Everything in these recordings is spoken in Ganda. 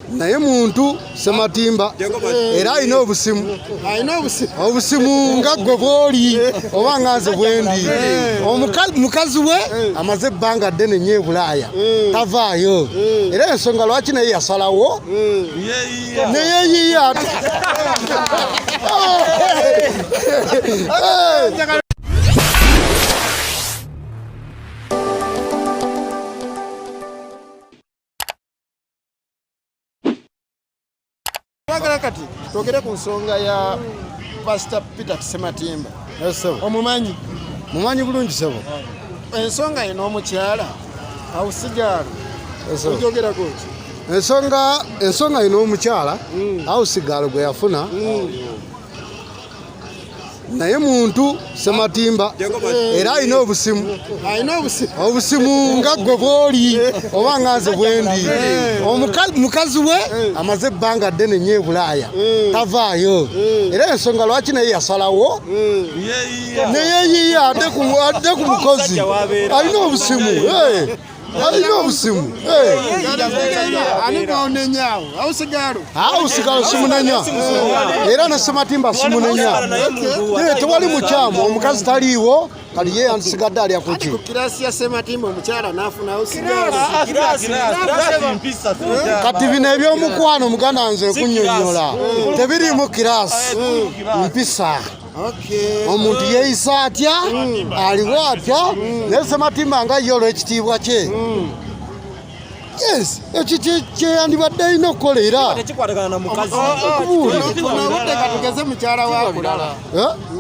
naye muntu sematimba era alina obusimu obusimu nga gwe bwoli oba nga nze bwendi mukazi we amaze ebbanga ddene nyo ebulaaya tavaayo era ensonga lwaki naye yasalawo neyeyiya twagala kati twogere ku nsonga ya pasita peter kisematimba omumanyi mumanyi bulungi sebo ensonga ye n'omukyala awusigaalo ojogerako ki ensonga ensonga ye n'omukyala hmm. awusigaalo gwe yafuna hmm. naye muntu sematimba era alina obusimu obusimu nga gwe bwoli oba nga nze bwendi mukazi we amaze ebbanga ddene nyo ebulaaya tavaayo era ensonga lwaki naye yasalawo neyeyiya adde ku mukozi alina obusimu Alina obusimu ausigalo simunenya era nasematimba simunenya tewali mukyamu omukazi taliiwo kali ye yandisigadde alya kuki kati bino ebyomukwano muganda nze kunyonyola tebiriimu kirasi mpisa Okay. omuntu yeeyisa atya mm. aliwo atya mm. naye sematimba nga ye olw'ekitiibwa kye mm. yes ekyo kyeyandibadde alina okukola era tugeze mukyala wakulala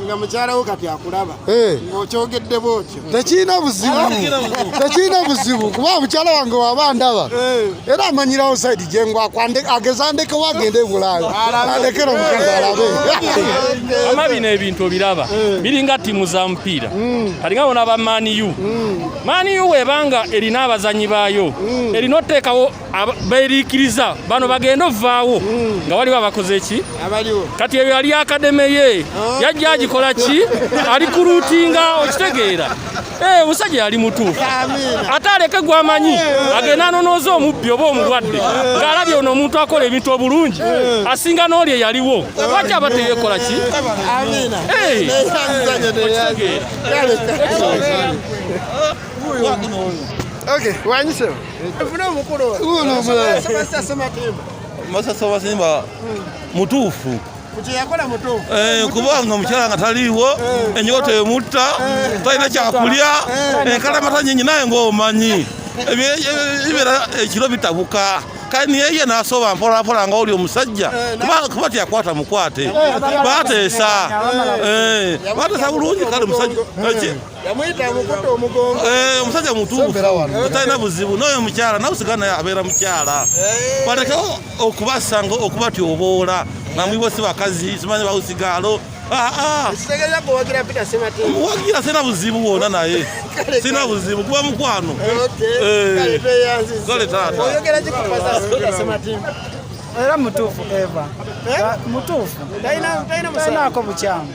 nga mukyala wo kati akulaba eh. ng'okyogedde bwotyo tekirina buzibu tekirina buzibu kuba mukyala wange waba ndaba eh. era amanyirawo saidi gyengwako ageza andekewo agende ebulayo alekera omukazi alabe ama bino ebintu obiraba eh. biringa tiimu za mupiira hmm. kalinga bona ba maniu maniu hmm. webanga erina abazanyi baayo hmm. erina oteekawo beerikiriza bano bagenda ovaawo hmm. nga waliwo abakoze ki kati eyo yali akademe ye ah. yajja agikola ki ali ku luutinga okitegeera eh, omusajja yali mutuufu ate aleke gwamanyi eh. agenda anonooza omubbi oba omulwadde eh. ng'alabye ono omuntu akola ebintu obulungi asinga n'oli eyaliwo lwaki aba teyekola ki okitegeera masasa wasimba mutuufu eh, kubanga omukyala nga taliiwo eh. enyoto emutta eh. talina kyakulya enkalamata nyinyi naye ngaomanyi ebibeera ekiro bitabuka kani yeye nasoba mpolampola nga oli omusajja eh, kuba tyakwata mukwate eh, bateesa eh, bateesa bulungi kale musajja yamuyita amukutte omugongo eh, omusajja mutuufu talina buzibu n'oyo mukyala nawe sigana abeera mukyala eh. baleke okubasanga okubatyoboola nga mwibo si bakazi simanyi bawusigaalo ah, ah. wagira sina buzibu wona naye sina buzibu kuba mukwano eh. kale taata era mutuufu eva mutuufu talinaako bukyamu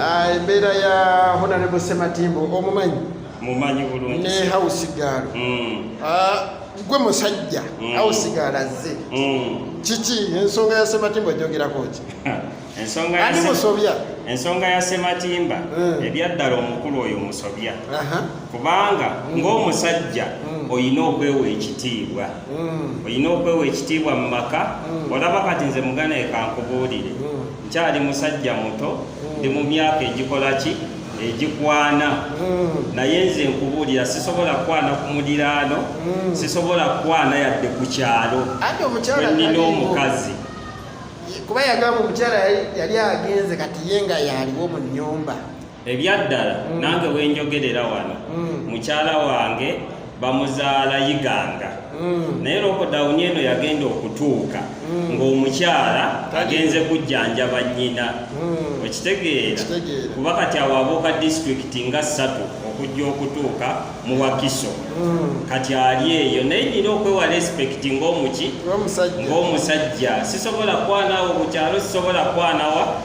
Ah, embeera ya honarebo sematimbo omumanyi mumanyi bulungi ne house girl mm. ah, gwe musajja mm. house girl azze mm. kiki ensonga ya sematimbo jogerako ki ensonga ani musobya ensonga ya sematimba mm. ebyaddala omukulu oyo musobya uh -huh. kubanga mm. ng'omusajja mm. olina okwewa ekitiibwa mm. olina okwewa ekitiibwa mu maka mm. olaba kati nze mugana ekankubuulire mm. nkyali musajja muto mm. ndi mu myaka egikola ki egikwana mm. naye nze nkubuulira sisobola kukwana ku muliraano mm. sisobola kukwana yadde ku kyalo wenina omukazi kuba yagamba omukyala yali agenze kati ye nga yaliwo mu nyumba ebyaddala mm. nange wenjogerera wano mm. mukyala wange bamuzaala yiganga mm. naye lokodawuni eno yagenda okutuuka mm. ng'omukyala agenze kujjanjaba nnyina mm. okitegeera kuba kati awabuuka disitulikiti nga ssatu okujja okutuuka mu wakiso mm. kati ali eyo naye nina okwewa respekiti ng'omuki ng'omusajja sisobola kwanawo bukyalo sisobola kwanawa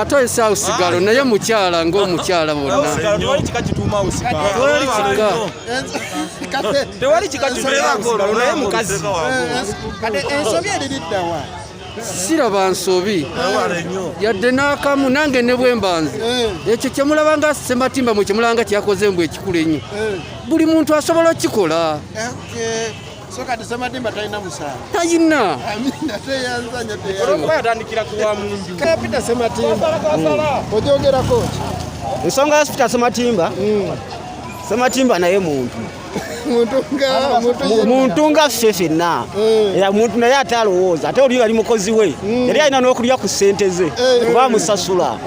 ate oyise awo sigalo naye mukyala ngaomukyala bonnaensobyeririddawa siraba nsobi yadde n'akamu nange ne bwembanze eh. ekyo kyemulaba nga sematimba mwe kyemulaba nga kyeyakoze mbu ekikulu ennyo eh. buli muntu asobola okukikola So kati Ssemadimba talina musango? Talina. Amina teyanza nyo teyanza. Olwokuba yatandikira ku wa munju. Kaya Peter Ssemadimba. Hmm. Ojogerako ki? Ensonga ya Peter Ssemadimba. Hmm. Ssemadimba naye muntu. muntu nga ffe fenna eh. era muntu naye ate alowooza ate oli yali mukozi we hmm. yali alina n'okulya ku ssente ze eh. oba amusasula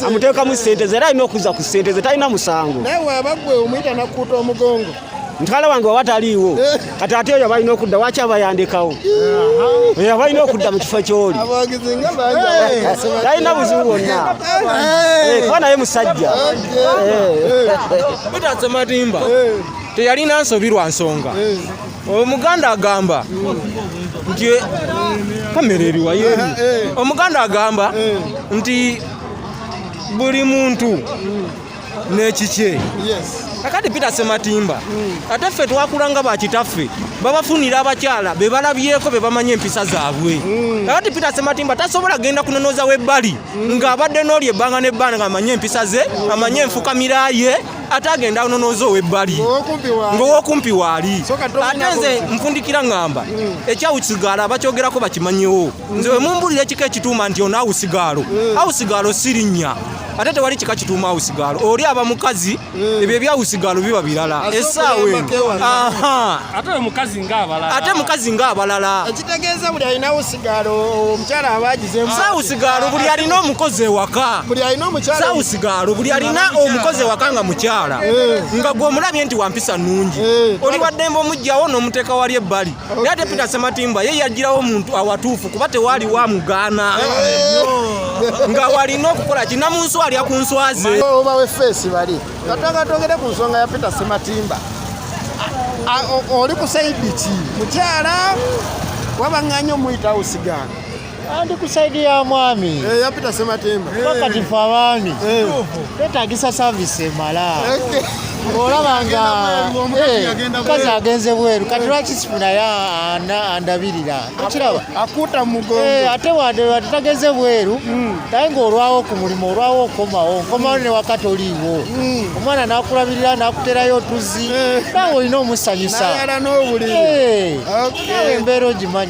amuteekamu ssente ze era alina okuza ku ssente ze talina musango mutwala wange waba taliiwo eh. kati ate oyo balina okudda waki abayandikawo oyo abalina okudda mu kifo kyoli talina buzibu bwonna eh. kuba naye musajja mutatse matimba teyalina nsobi lwa nsonga omuganda agamba nti kamera eriwayo eh, eh. omuganda agamba eh. nti buli muntu n'ekikye kakati peter sematimba hmm. ate ffe twakula nga bakitaffe babafunira abakyala be balabyeko be bamanyi empisa zaabwe hmm. kakati peter sematimba tasobola genda kunonooza webbali hmm. ng'abadde n'oli ebbanga n'ebbanga ng'amanyi empisa ze amanyi enfukamira ye ate agenda anonooza ow'ebbali ng'owokumpi waali ate nze nfundikira ng'amba ekyawukisigala bakyogerako bakimanyiwo nze wemumbulira ekika ekituuma nti ono awusigaalo mm. awusigaalo sirinnya ate tewali kika kituuma awusigaalo oli aba mukazi mm. ebyo ebyawusigaalo biba birala esaawa ate mukazi ng'abalala ekitegeeza buli alina awusigaalo omukyala abagizemu saawusigaalo buli alina omukozi ewaka saawusigaalo buli alina omukozi ewaka nga mukyala eh. nga gw'omulabye nti wampisa nnungi eh. oli waddembe omugjawo n'omuteeka wali ebbali naye ate peter sematimba ye yagirawo omuntu awatuufu kuba tewaali wa mugaana nga walina okukola kina mu nswa alya ku nswa ze oba wefeesi bali katwanga twogere ku nsonga ya peter sematimba oli ku saidi ki mukyala wabaŋŋanya omuyitawo sigaana Andi ku saidi ya mwami eh, yapita sematemba pakati eh. fe abaami eh. twetagisa savisi emala olaba nga mukazi agenze bweru kati lwaki sifunayo andabirira okiraba ate wade tageze bweru hmm. naye ngaolwawo ku mulimu olwawo okomawo nkomawo ne wakati oliiwo hmm. omwana nakulabirira nakuterayo otuzi nawe olina omusanyusa nawe embeera ogimanyi